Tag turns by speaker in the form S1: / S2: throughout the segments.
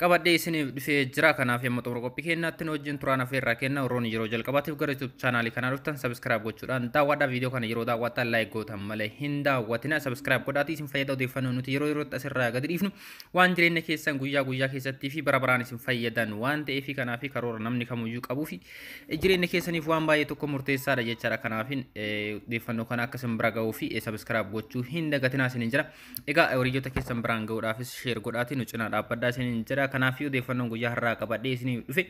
S1: qabadhee isiniif dhufee jira kanaaf yamma xumura qophii keenyaatti nu wajjin turaan afeerraa kenna warroonni yeroo jalqabaatiif gara YouTube chaanaalii kanaa dhuftan sabiskiraayib gochuudhaan daawwadhaa viidiyoo kana yeroo daawwattan laayik gootan malee hin daawwatina sabiskiraayib godhaatii isin fayyada odeeffannoo nuti yeroo yerootti asirraa gadi dhiifnu waan jireenya keessan guyyaa guyyaa keessattii fi bara baraan isin fayyadan waan ta'eef kanaa fi karoora namni kamuyyuu qabuu fi jireenya keessaniif waan baay'ee tokko murteessaadha jechaadha kanaafin odeeffannoo kana akka isin bira ga'uu fi sabiskiraayib gochuu hin dagatinaa isin hin jira Egaa horiyyota keessan biraan ga'uudhaafis sheer godhaatii nu cinaa dhaabbadhaa isiniin jedha. Kanaafii odeeffannoon guyyaa har'aa qabadhee isiniif dhufe.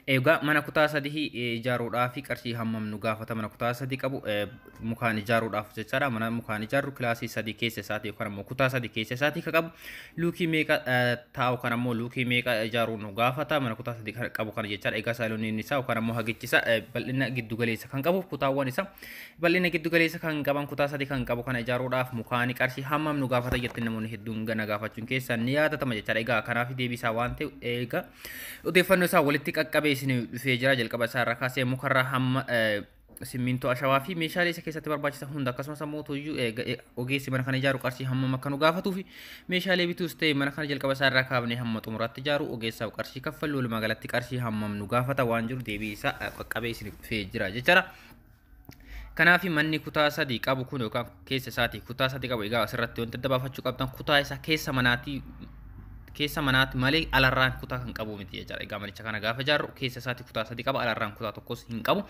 S1: Egaa mana kutaa sadii ijaaruudhaaf qarshii hammam nu gaafata mana kutaa sadii qabu mukaan ijaaruudhaaf jechaadha mana mukaan ijaarru kilaasii sadii keessa isaatii yookaan ammoo kutaa sadii keessa isaatii ka qabu luukii meeqa taa'u kan ammoo luukii meeqa ijaaruu nu gaafata mana kutaa sadii kan qabu kana jechaadha egaa saayilooniin isaa yookaan ammoo hagichi isaa bal'ina giddu galeessa kan qabu kutaawwan isaa Bal'ina giddu galeessa kan qaban kutaa sadi kan qabu kana ijaaruudhaaf mukaani qarshii hammam nu gaafata jettanii namoonni hedduun gana gaafachuun keessan ni yaadatama jechaadha. Egaa kanaaf deebii isaa waan ta'e eega odeeffannoo isaa walitti qaqqabee isin dhufee jira jalqaba isaa irraa kaasee mukarraa hamma eh, simmintoo ashawaa fi meeshaalee isa keessatti barbaachisa hunda akkasumas ammoo tuyyuu eega- e- ogeessi mana kana ijaaru qarshii hammam akka nu gaafatuu fi meeshaalee bituus ta'e mana kana jalqaba isaa irraa kaafnee hamma xumuraatti ijaaru ogeessaaf qarshii kaffallu walumaa galatti qarshii hammam nu gaafata waan jiru deebii isaa eh, qaqqabee isin dhufee jira jechaadha. Kanaaf manni kutaa sadii qabu kun yookaan keessa isaatii kutaa sadii qabu egaa asirratti wanti adda baafachuu qabdan kutaa isaa keessa manaatii keessa manaatti malee alarraan kutaa kan qabu miti jechaadha. Egaa manicha kana gaafa ijaarru keessa isaatii kutaa sadii qaba alarraan kutaa tokkos hin qabu.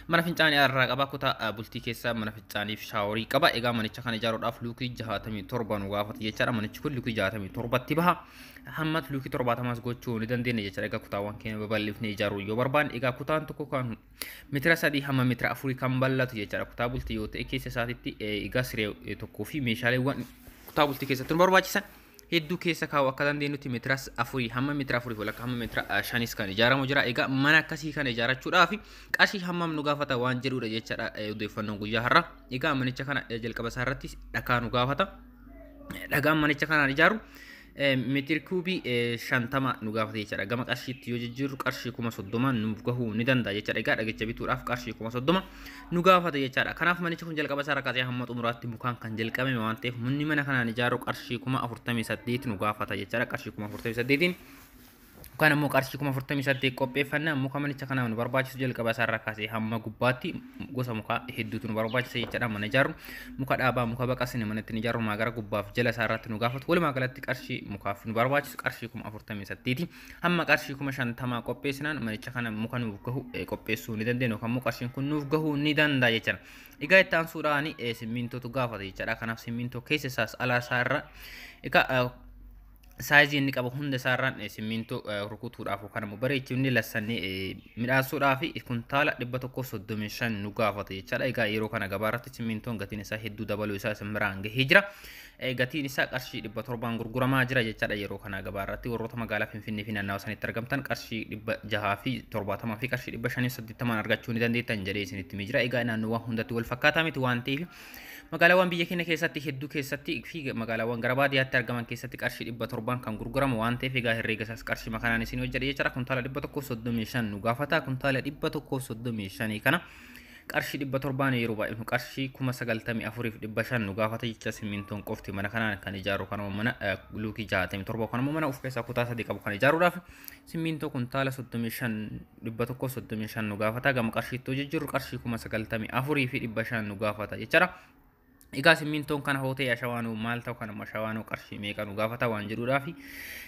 S1: Mana fincaanii alarraa qaba kutaa bultii keessa mana fincaaniif shaaworii qaba. Egaa manicha kana ijaaruudhaaf luukii jahaatamii torba nu gaafata jechaadha. Manichi kun luukii jahaatamii torbatti baha. Hamma luukii torbaatamaas gochuu ni dandeenya jechaadha. Egaa kutaawwan keenya babal'ifnee ijaaruu yoo barbaanne egaa kutaan tokko kan Mitira sadii hamma mitira afurii kan bal'atu jechaadha. Kutaa bultii yoo ta'e keessa isaatitti egaa siree tokkoo fi meeshaaleewwan kutaa bultii keessatti nu barbaachisan hedduu keessa kaa'u akka dandeenyutti mitira afurii hamma mitira afurii walakkaa hamma mitira shanis kan ijaaramu jira. Egaa mana akkasii kana ijaarachuudhaaf qarshii hammam nu gaafata waan jedhudha jechaadha odeeffannoon guyyaa har'a. Egaa manicha kana jalqaba isaa irratti dhakaa nu gaafata. Dhagaan manicha kanaan ijaaru Meetiri kuubii shantama nu gaafata jechaadha. Gama qarshiitti yoo jijjiirru qarshii kuma soddoma nuuf gahuu ni danda'a jechaadha. Egaa dhagicha bituudhaaf qarshii kuma soddoma nu gaafata jechaadha. Kanaaf manichi kun jalqaba isaa rakkatee hamma xumuraatti mukaan kan jalqabame waan ta'eef manni mana kanaan ijaarru qarshii kuma afurtamii saddeet nu gaafata jechaadha. Qarshii kuma afurtamii saddeetiin Yookaan ammoo qarshii kuma afurtamii saddeet qopheeffanna muka manicha kanaaf nu barbaachisu jalqaba isaarraa kaasee hamma gubbaatti gosa mukaa hedduutu nu barbaachisa jechaadha mana ijaarru muka dhaabaa muka baqasne manatti ni ijaarru maa gara gubbaaf jala isaarratti nu gaafatu walumaa galatti qarshii mukaaf nu barbaachisu qarshii kuma afurtamii saddeeti hamma qarshii kuma shantamaa qopheessinaan manicha kana muka nuuf gahu qopheessuu ni dandeenya yookaan immoo qarshiin kun nuuf gahuu ni danda'a jechaadha. Egaa itti aansuudhaan simmiintootu gaafata jechaadha kanaaf simmiintoo keessa isaas alaa isaa irra egaa saayizii inni qabu hunda isaarraan eh, simmiintoo eh, rukutuudhaaf yookaan immoo bareechifnee lassannee eh, midhaasuudhaaf kuntaala 135 nu gaafata jechaadha. Egaa yeroo kana gabaa irratti simmiintoon gatiin isaa hedduu dabaluu isaa isin biraan gahee jira. Eh, Gatiin isaa qarshii 700 gurguramaa jira jechaadha yeroo kana gabaa irratti warroota magaalaa Finfinnee fi naannawa sanitti argamtan qarshii 600 fi 70 fi qarshii 580 argachuu ni dandeettan jedhee isinitti himee jira. Egaa naannoowwan hundatti wal fakkaataa miti waan ta'eef Magaalaawwan biyya keenya keessatti hedduu keessatti fi magaalaawwan gara baadiyyaatti argaman keessatti qarshii dhibba torbaan kan gurguramu waan ta'eef egaa herreega isaas qarshii makanaan isin hojjedha jechuudha kuntaala dhibba tokkoof soddomii shan nu gaafata kuntaala dhibba tokkoof soddomii shanii kana qarshii dhibba torbaan yeroo baay'inu qarshii kuma sagaltamii afuriif dhibba shan nu gaafata jecha simmintoon qofti mana kanaan kan ijaaru kanuma mana luukii jaatamii torba kanuma mana of keessaa kutaa sadii qabu kan ijaaruudhaaf Simmiintoo kuntaala 35 135 nu gaafata gama qarshiitti hojii jirru qarshii 94 fi 500 nu gaafata jechaadha. Egaa simmiintoon kana hootee ashawaanoo maal ta'u kana ashawaanoo qarshii meeqa nu gaafata waan jedhuudhaa fi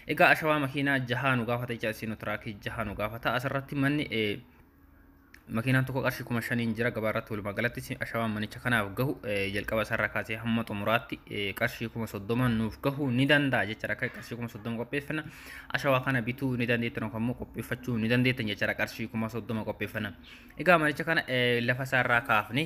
S1: egaa ashawaa makiinaa jahaa nu gaafata jecha isinoo tiraakii jahaa nu gaafata asirratti manni Makiinaan tokko qarshii kuma shaniin jira gabaa irratti walumaa galatti ashawaan manicha kanaaf gahu jalqaba isaarraa kaasee hamma xumuraatti qarshii kuma soddoma nuuf gahu ni danda'a jechaadha akka qarshii kuma soddoma qopheeffana ashawaa kana bituu ni dandeettan yookaan immoo qopheeffachuu ni dandeettan jechaadha qarshii kuma soddoma qopheeffana egaa manicha kana lafa isaarraa kaafne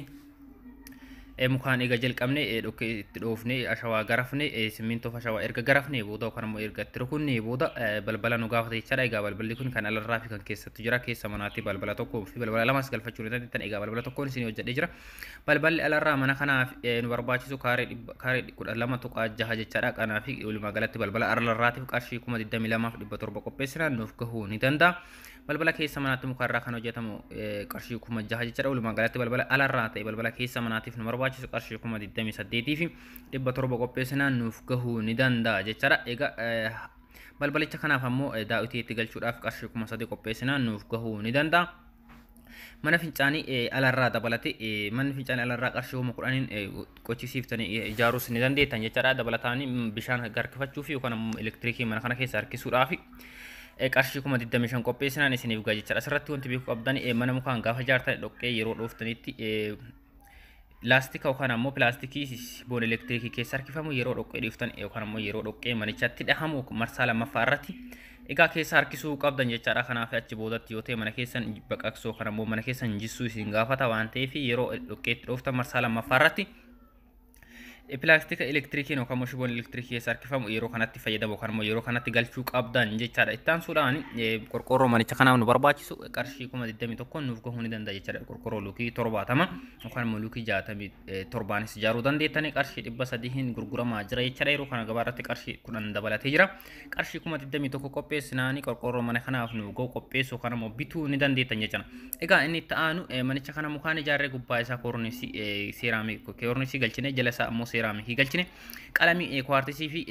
S1: Eh, mukaan eega jalqabne eh, dhokkee itti dhoofne eh, ashawaa garafne eh, simmintoof ashawaa erga garafne booda yookaan immoo erga itti rukunne booda eh, balbala nu gaafata jechaadha egaa balballi kun kan alarraa fi kan keessattu jira keessa manaatti balbala tokkoo fi balbala lamas galfachuu ni dandeettan egaa balbala tokkoon isin hojjedhee jira balballi alarraa mana kanaaf eh, nu barbaachisu kaaree dhibba- kaaree kudha lama tuqaa jaha jechaadha kanaa fi walumaa galatti balbala alarraatiif qarshii kuma digdamii lamaaf dhibba torba qopheessinaan nuuf gahuu ni danda'a Balbala keessa manaatti mukarraa kan hojjetamu qarshii kuma jaha jechuudha. Walumaa galatti balbala alarraa ta'e balbala keessa manaatiif nu barbaachisu qarshii kuma 28 fi 700 qopheessinaan nuuf gahuu ni danda'a jechuudha. Egaa balbalicha kanaaf ammoo daawwitii itti galchuudhaaf qarshii kuma 3 qopheessinaan nuuf gahuu ni danda'a. Mana fincaanii alarraa dabalate manni fincaanii alarraa qarshii kuma kudhaniin qochisiiftanii ijaaruus ni dandeettan jechaadha. Dabalataan bishaan harkifachuu fi yookaan ammoo elektirikii mana kana keessa harkisuudhaaf qarshii kuma 25 qopheessinaan isiniif ga'a jechaadha. Asirratti wanti beekuu qabdan mana mukaan gaafa ijaartan dhoqqee yeroo dhooftanitti laastika yookaan ammoo pilaastikii boon elektirikii keessa harkifamu yeroo dhoqqee dhiiftan yookaan ammoo yeroo dhoqqee manichatti dhahamu marsaa lammaffaa irratti egaa keessa harkisuu qabdan jechaadha kanaaf achi boodatti yoo ta'e mana keessan baqaqsuu yookaan ammoo mana keessan jissuu isin gaafata waan ta'eef yeroo dhoqqeetti dhooftan marsaa lammaffaa irratti Pilaastika elektirikiin yookaan immoo shiboon elektirikii keessa harkifamu yeroo kanatti fayyadamu yookaan immoo yeroo kanatti galchuu qabdan jechaadha. Itti aansuudhaan qorqoorroo manicha kanaaf nu barbaachisu qarshii kuma 21 nuuf gahuu ni danda'a jechaadha. Qorqoorroo luukii 70 yookaan immoo luukii 67nis ijaaruu dandeettanii qarshii 300 gurguramaa jira jechaadha. Yeroo kana gabaa irratti qarshii 10 dabalatee jira. qarshii kuma 21 qopheessinaani qorqoorroo mana kanaaf nu ga'u qopheessuu kana immoo bituu ni dandeettan jechuudha. Egaa inni itti aanu manicha kana mukaan ijaarree gubbaa isaa koornisii seeraamii koornisii galchine jala isaa immoo seeraamii galchine qalamii kuwaartisii fi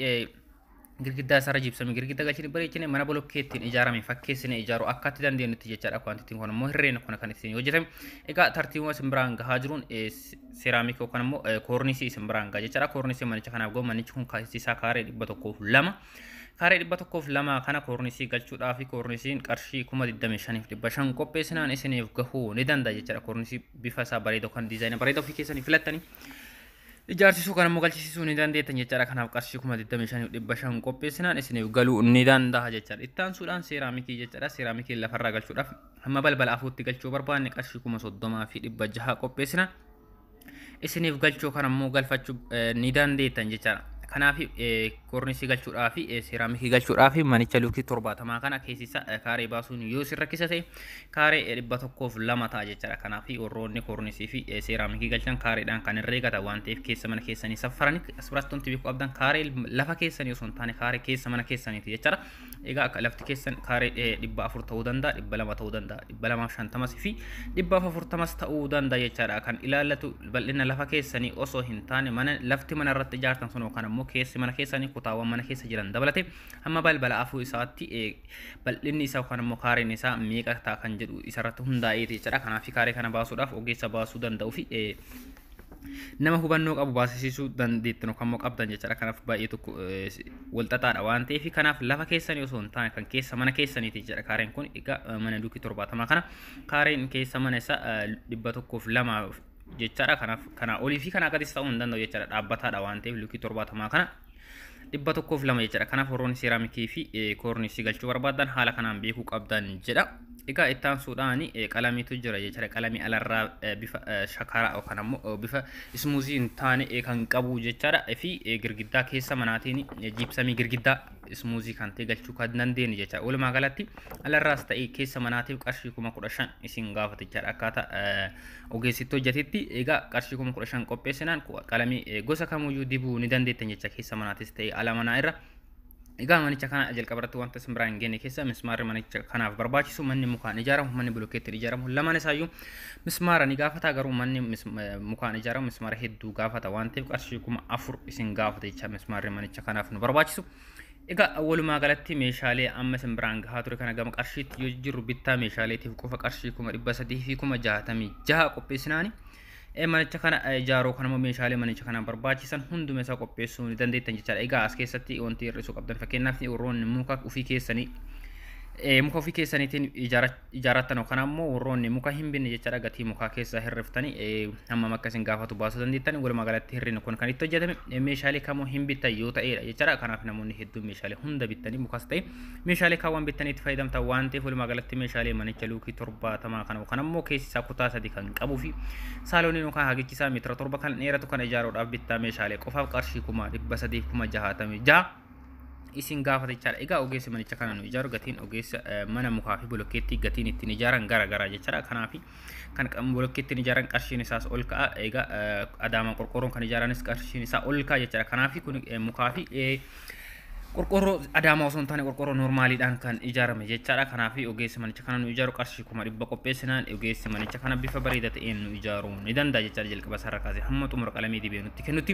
S1: girgiddaa isaarra jibsame girgidda galchine bareechine mana bolokkeettiin ijaarame fakkeessine ijaaru akka itti dandeenyutti jechaadha kwantitiin kun immoo hirreen kun kan ittiin hojjetame egaa tartiibuma simbiraan gahaa jiruun seeraamikii yookaan immoo koornisii isin biraan ga'a jechaadha. Koornisii manicha kanaaf gahu manichi kun keessi isaa kaaree dhibba tokkoof lama. Kaaree dhibba tokkoof lama kana koornisii galchuudhaa fi koornisiin qarshii kuma digdamii shaniif dhibba shan qopheessinaan isiniif gahuu ni danda'a jechaadha. Koornisii bifa isaa bareeda yookaan diizaayina bareeda ofii keessanii filattanii ijaarsisuu kan immoo galchisisuu ni dandeettan jechaadha. Kanaaf qarshii kuma digdamii shaniif dhibba shan qopheessinaan isiniif galuu ni danda'a jechaadha. Itti aansuudhaan seeraamikii jechaadha. Seeraamikii lafarraa galchuudhaaf Amma balbala afuutti galchuu barbaanne qarshii kuma soddomaa fi dhibba jaha qopheessina. Isiniif galchuu kan ammoo galfachuu ni dandeettan jechaadha. Kanaaf kornisii galchuudhaa fi seeraamikii galchuudhaa fi manicha luukii torbaatamaa kana keessisa kaaree baasuun yoo isin rakkisa ta'e kaaree dhibba tokkoof lama ta'a jechaadha. Kanaaf warroonni kornisii fi seeraamikii galchan kaareedhaan kan irra eegata waan ta'eef keessa mana keessanii saffaranii asirratti wanti beekuu qabdan kaaree lafa keessanii osoo hin taane kaaree keessa mana keessaniiti jechaadha. Egaa akka lafti keessan kaaree dhibba afur ta'uu danda'a, dhibba lama ta'uu danda'a, dhibba lamaaf shantamas fi dhibbaaf afurtamas ta'uu danda'a jechaadha. Kan ilaallatu bal'ina lafa keessanii osoo hin taane mana lafti mana irratti ijaartan sun yookaan ammoo keessi mana keessanii kutaawwan mana keessa jiran dabalate hamma balbala afur isaatti bal'inni isaa yookaan ammoo kaareen isaa meeqa ta'a kan jedhu isarratti hundaa'eeti jechaadha. Kanaaf kaaree kana baasuudhaaf ogeessa baasuu danda'uu fi nama hubannoo qabu baasisiisuu dandeettan yookaan immoo qabdan jechaadha. Kanaaf baay'ee tokko walxaxaadha waan ta'eef kanaaf lafa keessanii osoo hin taane kan keessa mana keessaniiti jechaadha. Kaareen kun egaa mana duukii torbaatamaa kana kaareen keessa mana isaa dhibba tokkoof lama jechaadha. Kanaaf kanaa olii fi kanaa gadis ta'uu hin danda'u jechaadha. Dhaabbataadha waan ta'eef luukii torbaatamaa kana dhibba tokkoof lama jechuudha. Kanaaf warroonni seeraamikii fi koorniisii galchuu barbaadan haala kanaan beekuu qabdan jedha. Egaa itti aansuudhaan qalamiitu jira jechuudha. Qalamii alarraa bifa shakaraa yookaan ammoo bifa ismuuzii hin taane kan qabu jechaadha. Fi girgiddaa keessa manaatiin jiibsamii girgiddaa ismuuzii kan ta'e galchuu kan dandeenye jechaadha. Walumaa galatti alarraas ta'e keessa manaatiif qarshii kuma kudha shan isin gaafata jechaadha. Akkaataa Ogeessitti hojjatitti egaa qarshii kuma kudha shan qopheessinaan qalamii gosa kamuyyuu dibuu ni dandeettan jecha keessa manaatis ta'e ala manaa irra. Egaa manicha kana jalqaba irratti wanta isin biraan hin geenye keessa mismaarri manicha kanaaf barbaachisu manni mukaan ijaaramu manni bilokeettiin ijaaramu lamaan isaayyuu mismaara ni gaafata garuu manni mukaan ijaaramu mismaara hedduu gaafata waan ta'eef qarshii kuma afur isin gaafata jecha mismaarri manicha kanaaf nu barbaachisu. Egaa walumaa galatti meeshaalee amma isin biraan gahaa ture kana gama qarshiitti yoo jijjiirru bittaa meeshaaleetiif qofa qarshii kuma dhibba sadii fi kuma jaatamii jaha qopheessinaani. Manicha kana ijaaruu kan immoo meeshaalee manicha kana barbaachisan hunduma isaa qopheessuu ni dandeettan jechaadha. Egaa as keessatti wanti hir'isuu qabdan fakkeenyaaf warroonni muka ofii keessanii muka ofii keessaniitiin ijaarachuu ijaarattan yookaan ammoo warroonni muka hin binne jechaadha gatii mukaa keessaa hirriftanii hammam akka isin gaafatu baasuu dandeettan walumaa galatti hirrina kun kan itti hojjetame meeshaalee kamuu hin bittan yoo ta'eedha jechaadha kanaaf namoonni hedduun meeshaalee hunda bittanii mukas ta'e meeshaalee kaawwan bittanii itti fayyadamta waan ta'eef walumaa galatti meeshaalee manicha luukii torbaatamaa kana yookaan ammoo keessi isaa kutaa sadi kan qabuu fi saalooniin yookaan hagichi isaa meetira torba kan dheeratu kan ijaaruudhaaf bittaa meeshaalee qofaaf qarshii kuma dhibba sadii kuma jahaatamii jaha isin gaafata jechaadha. Egaa ogeessi manicha kana nu ijaaru gatiin ogeessa eh, mana mukaa fi bolokkeettii gatiin ittiin ijaaran gara garaa jechaadha. Kanaaf kan qam- bolokkeettiin ijaaran qarshiin isaas ol ka'a. Egaa eh, adaamaan qorqoorroon kan ijaaranis qarshiin isaa ol ka'a jechaadha. Kanaaf kun eh, mukaa fi eh, qorqoorroo adaamaa osoo hin taane qorqoorroo normaaliidhaan kan ijaarame jechaadha. Kanaaf ogeessi manicha kana nu ijaaru qarshii kuma dhibba qopheessinaan ogeessi manicha kana bifa bareedaa ta'een nu ijaaruu ni danda'a jechaadha. Jalqaba isaarra kaasee hamma xumura qalamee dibee nutti kennutti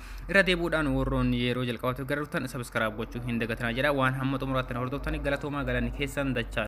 S1: Irra deebuudhaan warroon yeroo jalqabaatiif gara dhuftan sabiskiraab gochuu hin dagatinaa jedha waan hamma xumuraatti na hordoftanii galatoomaa galanni keessan dachaa.